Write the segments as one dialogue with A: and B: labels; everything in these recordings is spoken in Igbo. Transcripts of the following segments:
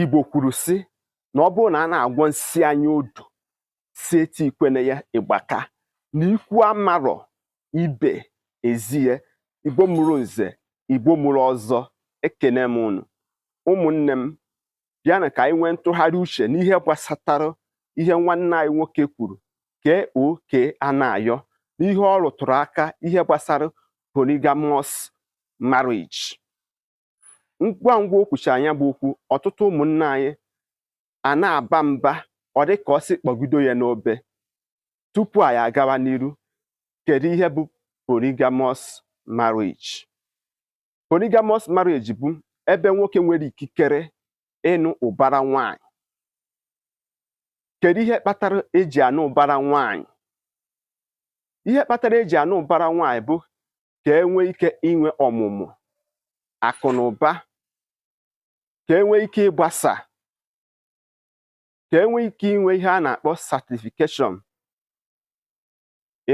A: Igbo kwuru sị na ọ bụrụ na a na-agwọ nsi anya odu si eti ikwene ya ịgbaka na ikwu amarọ ibe ezie igbo mụrụ nze igbo mụrụ ọzọ ekene m unu ụmụnne m bịanụ ka anyị nwee ntụgharị uche n'ihe gbasatara ihe nwanne anyị nwoke kwuru K.O.K. Anayo n'ihe ọ rụtụrụ aka ihe gbasara polygamous marriage ngwa ngwa o kwuchara ya bụ okwu ọtụtụ ụmụnna anyị a na-aba mba ọ dị ka ọ sị kpọgido ya n'obe tupu anyị agawa n'iru kedu ihe bụ polygamous marriage polygamous marriage bụ ebe nwoke nwere ikikere ịnụ ụbara nwanyị kedu ihe kpatara eji anụ ụbara nwanyị ihe kpatara eji anụ ụbara nwanyị bụ ka e nwee ike inwe ọmụmụ akụ na ụba ka e nwee ike ịgbasa ka e nwee ike inwe ihe a na-akpọ certification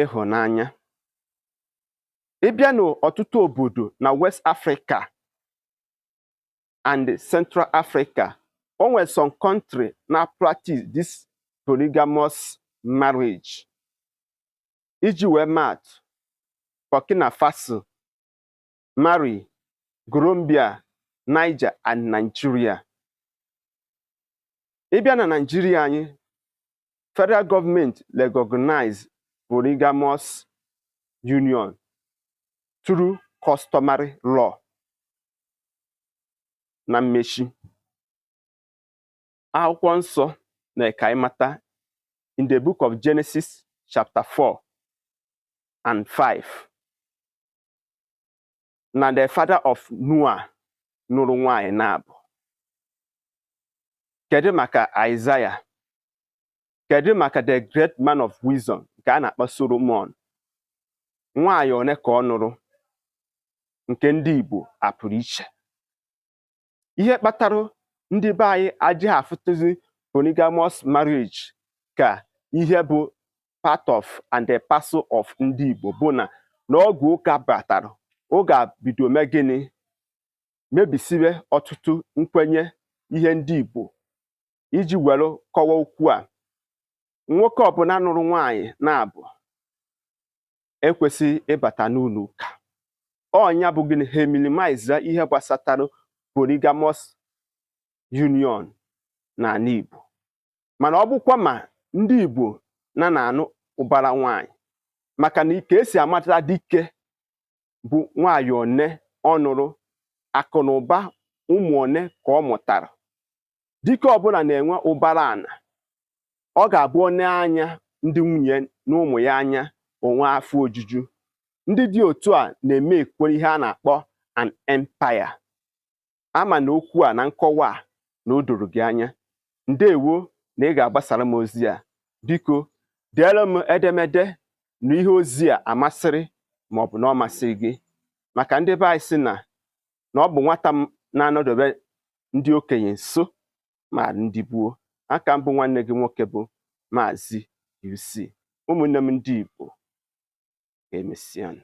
A: ịhụnanya ị bịa n'ọtụtụ obodo na West Africa and Central Africa o nwere some country na practice this polygamous marriage Iji wee maa atụ, Burkina Faso, Mali, Gambia, Niger and Nigeria. Ị bịa na Nigeria anyị, federal government recognize polygamous union through customary law. Na mmechi, akwụkwọ nsọ mere ka anyị mata in the book of Genesis chapter 4 and 5 na the father of Noah nụrụ nwanyị naabụ kedu maka Isaiah kedu maka the great man of wisdom nke a na-akpọ Solomon nwaanyị one ka ọ nụrụ nke ndị Igbo a pụrụ iche ihe kpatara ndị be anyị adịghị afụtụzi polygamous marriage ka ihe bụ part of and the parcel of ndị Igbo bụ na n'oge ụka batara ụka bido mee gịnị mebisiwe ọtụtụ nkwenye ihe ndị Igbo iji were kọwa okwu a nwoke ọbụla nụrụ nwaanyị naabụ ekwesịghị ịbata n'ụlọ ụka ọ nya bụ gịnị ha minimize ihe gbasatara polygamous union n'ala Igbo mana ọ bụkwa ma ndị Igbo na na-anụ ụbara nwanyị maka na ka esi amata dike bụ nwanyị one ọ nụrụ akụ na ụba ụmụ one ka ọ mụtara dike ọbụla na-enwe ụbara ana ọ ga-abụ o nee anya ndị nwunye na ụmụ ya anya o nwee afọ ojuju ndị dị otu a na-eme e-create ihe a na-akpọ an empire ama m na okwu a na nkọwa a na o doro gị anya ndewo na ị ga-agbasara m ozi a biko deere m edemede na ihe ozi a masịrị ma ọ bụ na ọ masịghị gị maka ndị be anyị sị na na ọ bụ nwata m na-anọdebe ndị okenye nso ma ndị gboo a ka m bụ nwanne gị nwoke bụ maazị UC ụmụnne m ndị Igbo ka emesịa